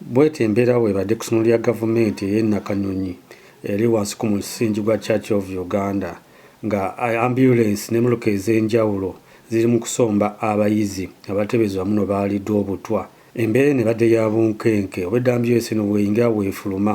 Bweti embeera bwebadde ku ssomero lya gavumenti eye Nakanyonyi eri wansi ku musingi gwa Church of Uganda nga Ambulance ne muluka ezenjawulo ziri mu kusomba abayizi abatebezi wamu no baalidwa obutwa embeera eno ebadde ya bunkenke obwedda Ambulance eno bweyingira bwefuluma.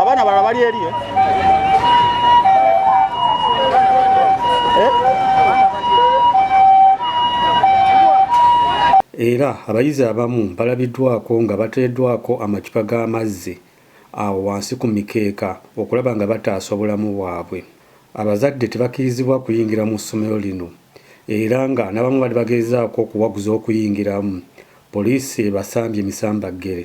abaana balala bali eri eh? era abayizi abamu balabiddwako nga bateeddwako amacupa g'amazzi awo wansi ku mikeeka okulaba nga bataasa obulamu bwabwe Abazadde tebakirizibwa kuyingira mu ssomero lino era nga nabamu bali bagezaako okuwaguza okuyingiramu, poliisi ebasambye misambaggere.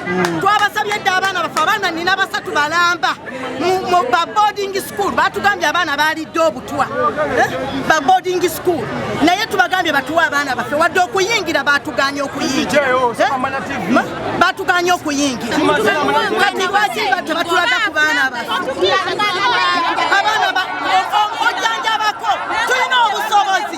twabasabye dda abaana baffe abaana nina basatu balamba mu baboarding school batugambye abaana balidde obutwa eh? baboarding school naye tubagambye batuwe abaana baffe wadde okuyingira batuganye okuyingira eh? batuganye okuyingira kati lwaki tebatulaga ku baana baffe abaana ojjanjabako tulina obusobozi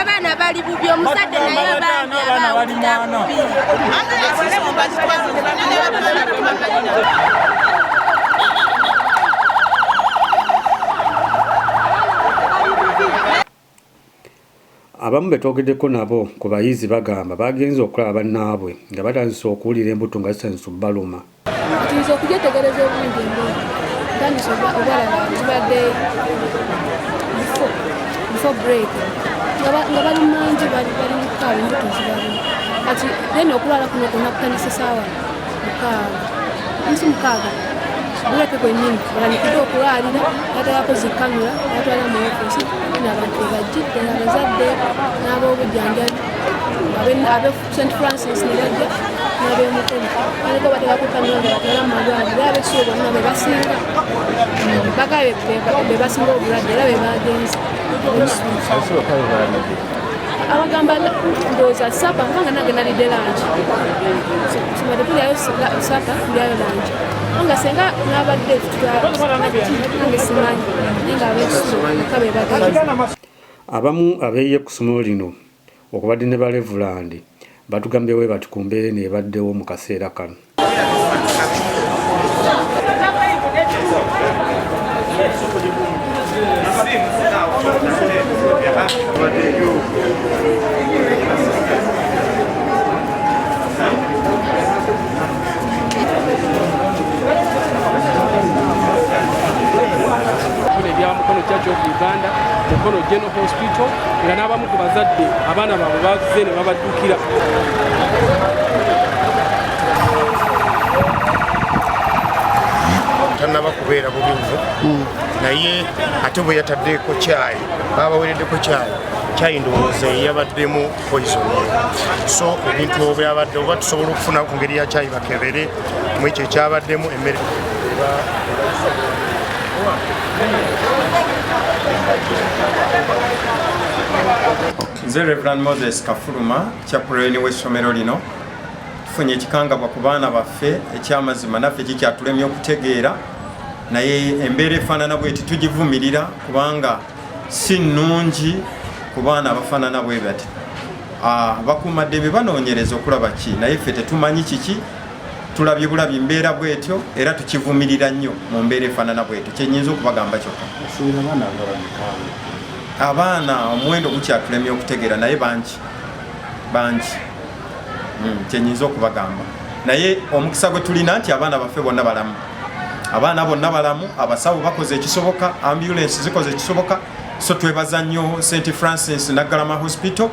abaana bali bubi omuzadde naye abaana bali mwana abamu betwogeddeko nabo ku bayizi bagamba bagenze okulaba bannaabwe nga batandise okuwulira embuto nga zitandise okubaluma Tuyinza okugyetegereza obulungi emboozi ntandisa obalaba zibadde before break nga bali mangi bali mukaawa embuto zibalimu kati then okulwala kuno kwonna kutandise saawa mukaaga nsi mukaaga buleke kwennyini balanyikiddwa okulwalira batayako zikamera batwala mu ofiisi nabantu bebajjidde abazadde n'ab'obujanjabi St. Francis ne bajja n'ab'emikono baliko batera ku kanonda batera mu malwaliro era ab'ekisulo bonna be basinga bakabe be basinga obulwadde era be baagenze abagamba ndowooza sapa kubanga nange nalidde langi sibadde tulyayo sapa tulyayo langi nga senga nabadde nange simanyi naye nga ab'ekisulo bakabe bagenda abamu abeeya ku ssomero lino Okubadde ne balevulandi batugambye bwebati ku mbeera eno ebaddewo mu kaseera kano. Mukono Church of Uganda, Mukono General Hospital, nga n'abamu ku bazadde abaana baabwe bazze ne babaddukira tanaba kubeera bubi nyo hmm. naye ate bwe yataddeko kyayi babawereddeko kyayi kyayi ndowooza eyabaddemu poison so ebintu obyabadde oba tusobola okufuna ku ngeri ya kyayi bakebere mu ekyo ekyabaddemu emmere nze reverand moses kafuluma kyapuloyini w'essomero lino tufunye ekikangabwa ku baana baffe ekyamazima naffe kikyatulemye okutegeera naye embeera efaanana bweti tugivumirira kubanga si nnungi ku baana abafaanana bwe bati ah, bakuumaddembe banoonyereza okulaba ki naye ffe tetumanyi kiki tulabye bulabi mbeera bwetyo era tukivumirira nnyo mu mbeera efaanana bwetyo kyenyinza okubagamba kyokka abaana omuwendo gukyatulemye okutegeera naye bangi bangi hmm, kyenyinza okubagamba naye omukisa gwe tulina nti abaana baffe bonna balamu abaana bonna balamu abasawo bakoze ekisoboka ambulance zikoze ekisoboka so twebaza nnyo st francis naggalama hospital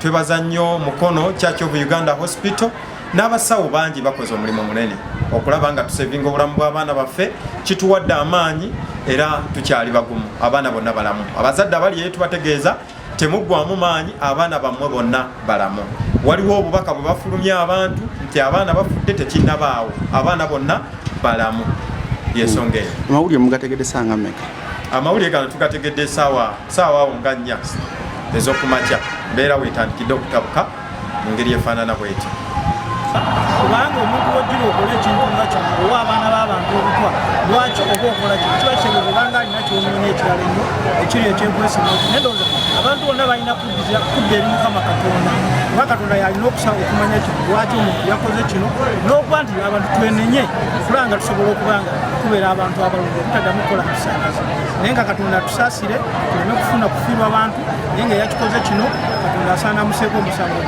twebaza nnyo mukono church of uganda hospital n'abasawo bangi bakoze omulimu munene okulaba nga tusevinga obulamu bw'abaana baffe kituwadde amaanyi era tukyali bagumu abaana bonna balamu abazadde abali eyo tubategeeza temuggwamu maanyi abaana bammwe bonna balamu waliwo obubaka bwe bafulumya abantu nti abaana bafudde tekinnabaawo abaana bonna balamu yensonga eyo amawulire mugategedde sanga meka amawulire gano tugategedde saawa saawa awo nga nnya ezokumakya mbeera wetandikidde okutabuka mu ngeri efaanana bweti kubanga omuntu wojjira okola ekintu nga kino owa abaana b'abantu obutwa lwaki oba okola kino kiba kyebwe kubanga alina kyonoonya ekirala ennyo ekiri ekyenkwesima nti naye ndowooza abantu bonna balina kuddira kudda eri mukama katonda kuba katonda yalina okusaba okumanya kino lwaki omuntu yakoze kino n'okuba nti abantu twenenye kulanga tusobola okuba nga tubeera abantu abalungi obutaddamu kukola musangazi naye nga katonda atusaasire tuleme kufuna kufiirwa abantu naye nga yakikoze kino katonda asaana museeko omusango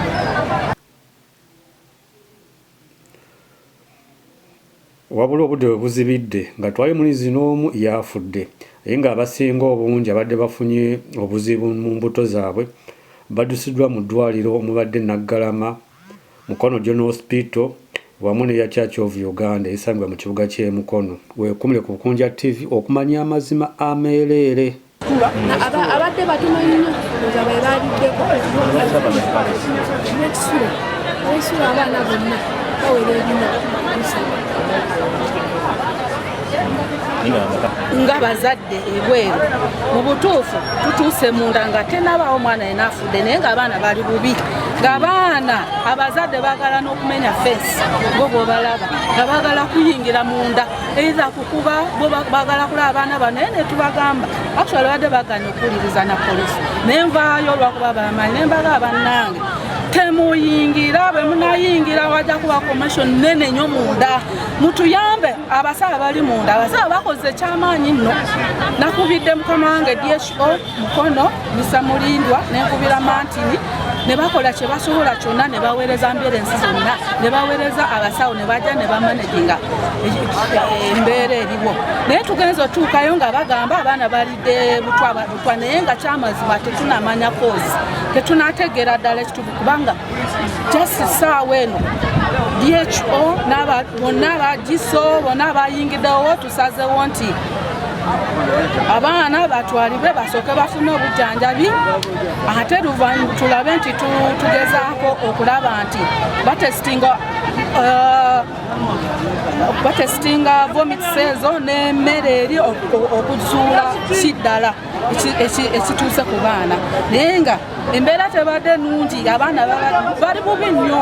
wabula obudde bwe buzibidde nga twali muli zinoomu yaafudde naye ng'abasinga obungi abadde bafunye obuzibu mu mbuto zaabwe baddusiddwa mu ddwaliro omubadde naggalama Mukono General Hospital wamu n'eya Church of Uganda esangibwa mu kibuga ky'e Mukono. Weekumire ku Bukunja TV okumanya amazima ameereere. Abadde batono nnyo nga be baaliddeko n'ekisulo n'ekisulo abaana bonna bawera ebina nga bazadde ebweru mu butuufu tutuuse munda nga tenabaawo omwana yena afudde naye nga abaana bali bubi nga baana abazadde bagala n'okumenya fesi bo bwobalaba nga bagala kuyingira munda eitha kukuba bo bagala kula abaana bano naye netubagamba actually badde baganya okuwuliriza na polisi naye nvaayo olwakuba bamanyi naye mbaga abannange temuyingira bwe munayingira wajja kuba commission nene nyo munda mutuyambe abasawo bali munda abasawo bakoze ekyamaanyi nno nakubidde mukama wange dso mukono misamulindwa nenkubira mantini ne bakola kye basobola kyonna ne baweereza mbeera ensi zonna ne baweereza abasawo ne bajja ne bamanaginga embeera eriwo naye tugenza otuukayo nga bagamba abaana balidde butwa naye nga kyamazima tetunamanya kozi tetunategeera ddala ekituufu kubanga just saawa eno dho bonna abagiso bonna abayingiddewo tusazewo nti abaana batwalibwe basooke bafune obujjanjabi ate luvannyuma tulabe nti tugezaako okulaba nti batesitinga uh, batesitinga vomitsezo n'emmere eri okuzuula kiddala ekituuse ku baana naye nga embeera tebadde nungi abaana bali bubi nnyo